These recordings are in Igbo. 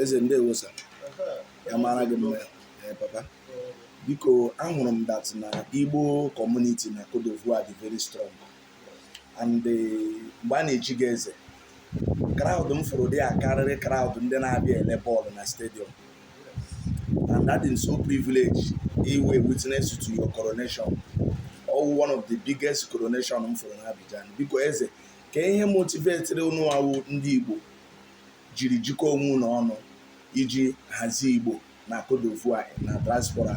eze ndewo sir ya mara gị mma eh, papa biko ahụrụ m that na igbo community na Côte d'Ivoire dị very strong and eh, mgbe a na-echi gị eze crowd m fụrụ dị ya karịrị crowd ndị na-abịa ele bọọlụ na stadium and adị m so privileged ịwụ witness to your coronation ọ wụ one of the biggest coronation m fụrụ na Abidjan biko eze Ke ihe motivetịrị ụnụ awụ ndị Igbo jiri jikọọ onwe ụnụ ọnụ iji hazie Igbo na Cote d'Ivoire na diaspora?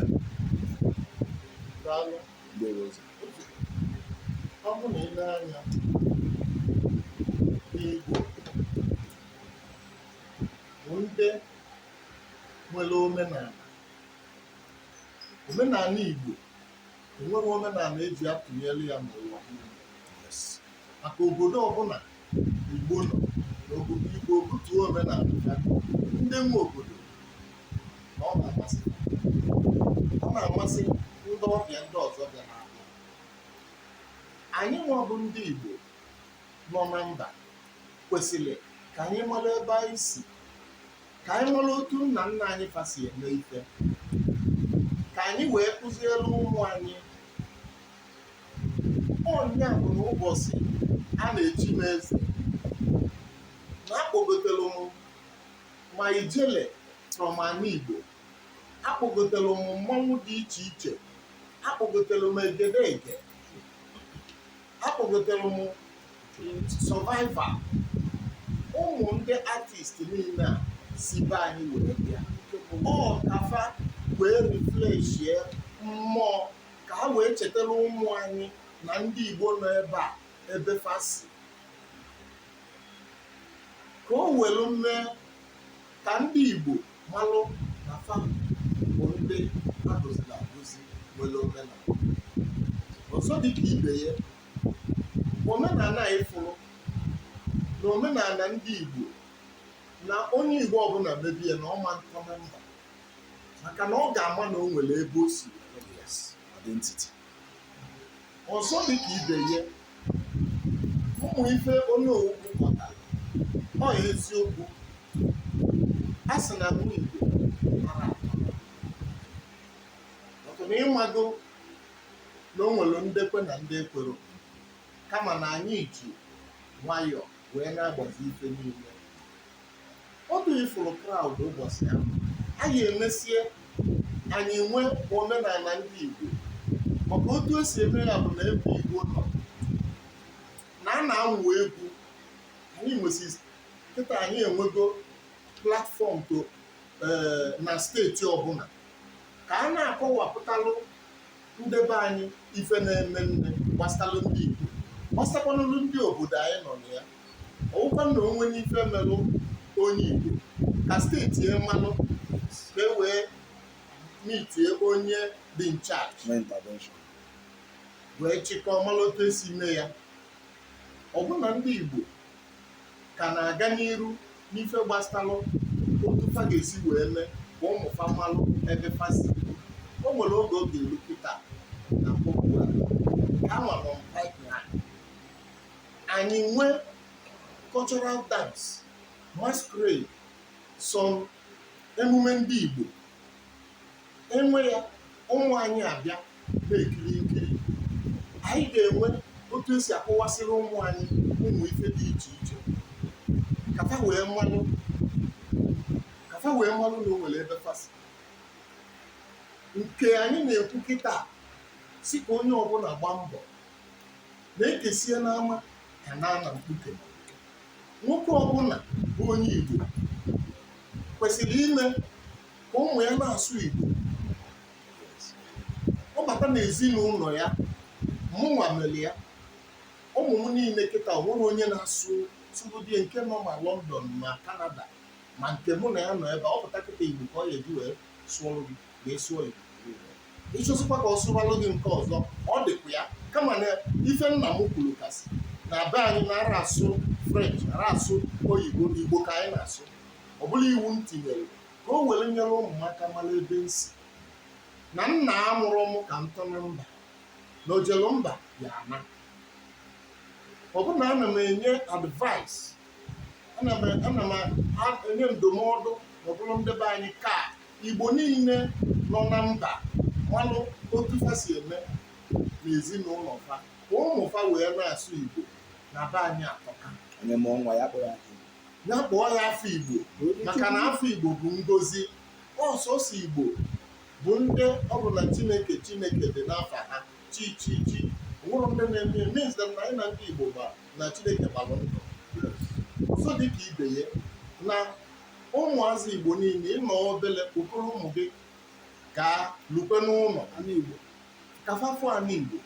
Daalụ. Ndewo ọzọ. Ọ bụ na i nee anya Igbo bụ ndị nwere omenala omenala Igbo enweghị omenala eji atụnyere ya n'ụwa maka obodo ọbụla igbo nọ na obodo igbo butuo omenala ya ndị nwe obodo na ọ na-amasị ọ na-amasị ndị ọbịa ndị ọzọ bịa na anyị nwa bụ ndị Igbo nọ na mba kwesịrị ka anyị mara ebe anyị si ka anyị mara otu nna nna anyị fa si eme ife ka anyị wee kụziere ụmụ anyị ọ nya bụ na ụbọchị a na-echi m eze na akpọgotere m ma ijele from ana igbo akpọgotere m mmanwụ dị iche iche akpọgotere m egedege akpọgotere m Survivor ụmụ ndị artist niile a si be anyị were bịa ọ ka fa wee refleshie mmụọ ka ha wee chetara ụmụ anyị na ndị igbo nọ ebe a ebe fa si ka o welu mee ka ndị Igbo malụ na fa bụ ndị a gọziri agọzi nwere omenala ọzọ dịka ibe ya omenala anyị fụrụ na omenala ndị Igbo na onye Igbo ọbụla mebe ya na ọ ma ntọ na mba maka na ọ ga-ama na o nwere ebe o si identity ọzọ dị ka ibe ya ụmụ ife onye owukwu kọta ọ ya eziokwu a sị na nwa igbo mara ọtụ na ị mago na o nwere ndị kwe na ndị ekwero kama na anyị ji nwayọọ wee na-agbazi ife niile otu ị fụrụ kraụd ụbọchị ahụ anyị emesie anyị nwee omenala ndị Igbo maka otu e si eme ya bụ na ebe Igbo nọ na a na-amụ egwu anyị mesie kịta anyị enwego platfọm to eh, na steeti ọbụla ka a na-akọwapụtalụ ndị be anyị ife na-eme eme gbasalụ ndị Igbo gbasakwanụlụ ndị obodo anyị nọ na ya ọ wụkwa na o nwee ife melụ onye Igbo ka steeti ya malụ ka e wee mitie onye dị in charge wee chịkọọ malụ otu e si mee ya ọ bụ na ndị Igbo ka na-aga n'iru n'ife gbasalụ otu fa ga-esi wee mee ka ụmụ fa malụ ebe fa si o nwere oge ọ ga-eru kịta na mkpọpụ ha nwere mpa anyị nwee cultural dance masquerade some emume ndị Igbo e nwee ya ụmụ anyị abịa na-ekiri nkiri anyị ga-enwe otu e si akọwasịrị ụmụ anyị ụmụ ife dị iche iche ka fa wee malụ ka fa wee malụ na o nwere ebe fa si nke anyị na-ekwu kịta sị ka onye ọbụla gbaa mbọ na e kesie n'ama ka a na-ana mkpuke nwoke ọbụla bụ onye igbo kwesịrị ime ka ụmụ ya na-asụ igbo ọ bata n'ezinụlọ ya mụnwa mere ya ụmụ m niile kịta o nwere onye na-asụ sụrụdie nke nọ ma lọndọn ma kanada ma nke mụ na ya nọ ebe a, ọ pụta kịta igbo ka ọ ya-eji wee sụọrụ gị ma ị sụọ Igbo ị chọzikwa ka ọ sụwalụ gị nke ọzọ ọ dịkwa ya kama na ife nna m kwuru kasị na be anyị na-ara asụ french ara asụ oyibo igbo ka anyị na-asụ ọ bụrụ iwu m tinyere ka o were nyere ụmụaka mara ebe m si na nna amụrọ m ka m tọ na mba na o jelu mba ya-ana ọ bụ na ana m enye advice ana m ana m enye ndụmọdụ na ọ bụrụ ndị be anyị ka Igbo niile nọ na mba malụ otu fa si eme n'ezinụlọ fa ka ụmụ fa wee na-asụ Igbo na be anyị atọka onye mụọ nwa ya kpọrọ afa Igbo ya kpọọ ya afa Igbo maka na afa Igbo bụ ngozi ọ sọsọ Igbo bụ ndị ọ bụ na Chineke Chineke dị n'afa ha chi chi chi wụrụ ndị na-eme means na anyịnwa ndị Igbo na Chineke gbalụ ndụ ọzọ dị ka ibe ya na Ụmụazị Igbo niile, ị nọọ obele, kpokọrọ ụmụ gị gaa lukwe n'ụlọ ana Igbo ka fa fụ ana Igbo.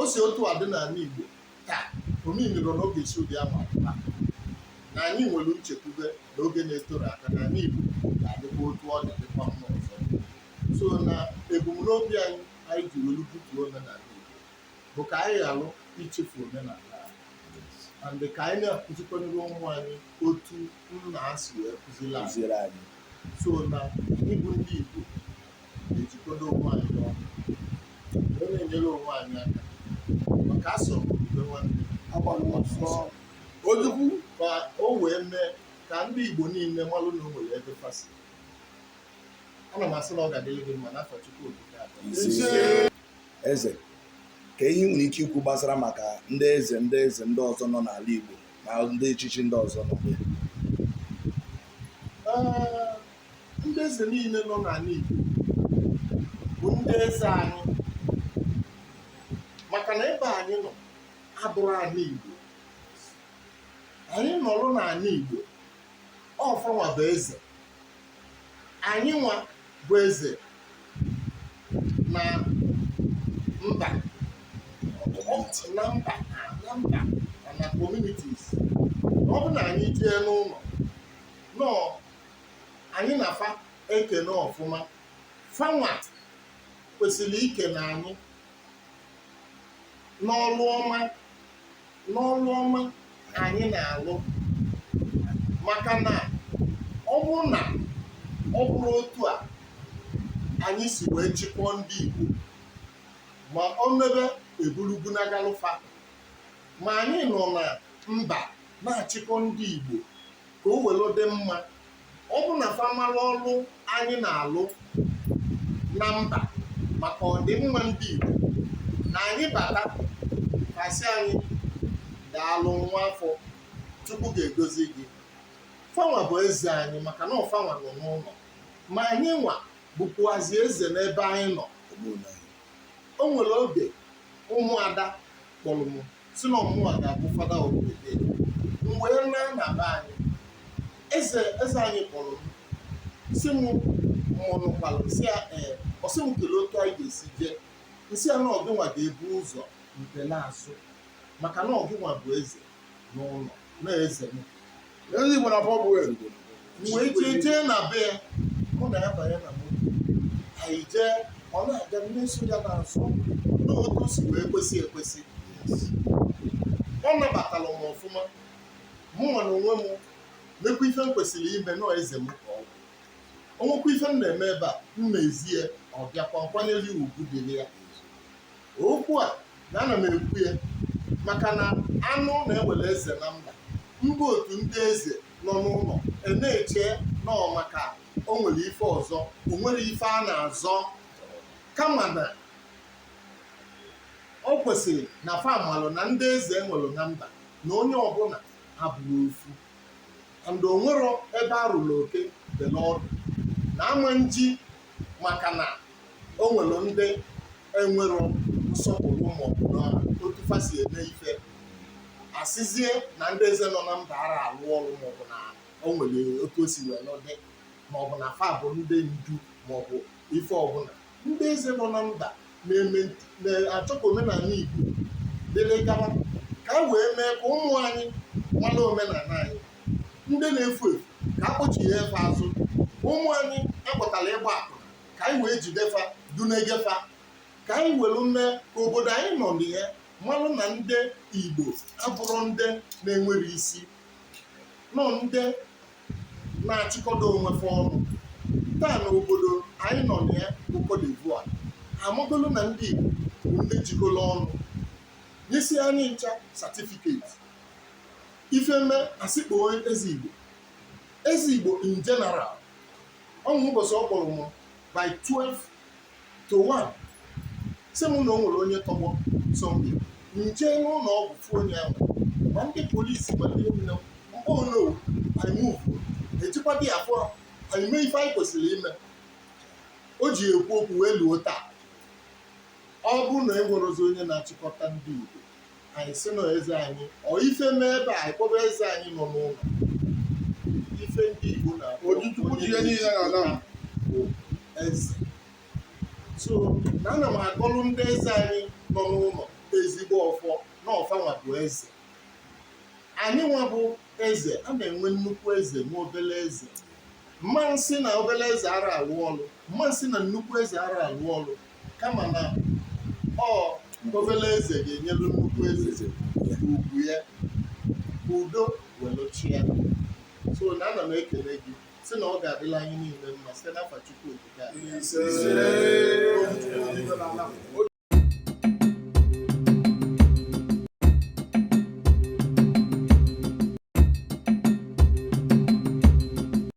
O si otu a dị n'ala Igbo taa, o meanirọ na ọ ga-esi ụdị ahụ apụta na anyị nwere nchekwube na oge na-eterọ aka na ala Igbo ga-adịkwa otu ọ dị dịkwa mma ọzọ. So na ebumnobi anyị anyị ji welu butuo omenala Igbo. bụ ka anyị ghara ichefu omenala and ka anyị na-akụzikwanere ụmụ anyị otu nna ha si wee kụziri anyị so na anyị bụ ndị Igbo na-ejikọdo onwe anyị ọnụ wee na-enyere onwe anyị aka maka asọ mgbe nwanne ojukwu ka o wee mee ka ndị Igbo niile malụ na o nwere ebe fa si ana m asị na ọ ga-adịrị gị mma n'afa Chukwu okike Eze, ka ihe i nwere ike ikwu gbasara maka ndị eze ndị eze ndị ọzọ nọ n'ala Igbo na ndị echichi ndị ọzọ nọ n'Igbo? Ndị eze niile nọ n'ala Igbo bụ ndị eze anyị maka na ebe anyị nọ abụrọ ala Igbo anyị nọrọ n'ala Igbo ọ fanwa bụ eze anyị nwa bụ eze na mba na mba na mba na communities ọ bụ na anyị jee n'ụlọ nọ anyị na fa ekene ọfụma fanwa kwesịrị ikene anyị n'ọlụ ọma n'ọlụ ọma anyị na-alụ maka na ọ bụrụ na ọ bụrọ otu a anyị si wee chịkọọ ndị Igbo ma o mebe e buru okwu na-agalụ fa ma anyị nọ na mba na-achịkọ ndị Igbo ka o were dị mma ọ bụ na fa malụ ọlụ anyị na-alụ na mba maka ọdịmma ndị Igbo na anyị bata ka a sị anyị daalụ nwa afọ Chukwu ga-egozi gị fanwa bụ eze anyị maka na ọ fanwa nọ n'ụlọ ma anyị nwa bụkwuazị eze n'ebe anyị nọ o nwere oge ụmụada kpọrọ m sị na ọ mụwa ga-abụ father of the day m wee naa na be anyị eze eze anyị kpọrọ m sị m mụ nụkwara sị ya ee ọ sị m kelee otu anyị ga-esi jee m sị ya na ọ gịnwa ga-ebu ụzọ m kpee n'azụ maka na ọ gịnwa bụ eze n'ụlọ na eze m eze igbo na bọbụ elu m wee jee jee na be ya mụ na ya banye na moto anyị jee ọ na-aga mmeso ya na-asọ n'otu si wee kwesị ekwesị ọ nabatara m ọfụma mụ nwa na onwe m mekwa ife m kwesịrị ime na ọ eze m ka ọ bụ o nwekwa ife m na-eme ebe a m na-ezi ya ọ bịakwa m kwanyere ugwu dịrị ya okwu a na ana m ekwu ya maka na a nụ na e nwere eze na mba mba otu ndị eze nọ n'ụlọ e na-eche na ọ maka o nwere ife ọzọ o nwere ife a na-azọ kama na ọ kwesịrị na fa malụ na ndị eze e nwelu na mba na onye ọbụla abụrọ ofu and o nwero ebe a rụrụ oke dị n'ọdụ na ama nji maka na o nwere ndị enwero nsọpụrụ maọbụ na otu fa si eme ife a sịzie na ndị eze nọ na mba ara alụ ọrụ maọbụ na o nwere otu o si wee nọdị maọbụ na fa bụ ndị ndu maọbụ ife ọbụla ndị eze nọ na mba na-achọ ka omenala igbo dịrị gawa ka e wee mee ka ụmụ anyị mara omenala anyị ndị na-efu efu ka a kpọchigha fa azụ ụmụ anyị a kpọtara ịgba akwụna ka anyị wee jide fa dunaga fa ka anyị welu mee ka obodo anyị nọ na ya malụ na ndị igbo abụrọ ndị na-enwero isi na ọ ndị na-achịkọdo onwe fa ọnụ taa na obodo anyị nọ na ya bụ Cote d'Ivoire amagolu na ndị igbo bụ ndị jikọrọ ọnụ nyesi anyị ncha satifiketi ife mee a sị kpọọ eze igbo eze igbo in general o nwere ụbọchị ọ kpọrọ m by 12 to 1 sị m na o nwere onye tọgbọ sọmpi m jee n'ụlọ ọgwụ fụ onye ahụ ma ndị polisi ma ndị nine m kpọrọ anyị move ejikwa dị afọ anyị mee ife anyị kwesịrị ime o ji ekwu okwu wee luo taa ọ bụrụ na e nwerozi onye na-achịkọta ndị Igbo anyị sị na eze anyị ọ ife mee ebe a kpọba eze anyị nọ n'ụlọ ife ndị Igbo na Ojukwu ji ihe niile na na bụ eze so na ana m agọlụ ndị eze anyị nọ n'ụlọ ezigbo ọfọ na ọ fa nwa bụ eze anyị nwa bụ eze a na-enwe nnukwu eze nwee obele eze mma nsị na obele eze ara alụ ọlụ mma nsị na nnukwu eze ara alụ ọlụ kama na ọ obele eze ga-enyere nnukwu eze ugwu ya udo welu chịa so na ana m ekele gị sị na ọ ga-adịlị anyị niile mma site n'afa Chukwu okike a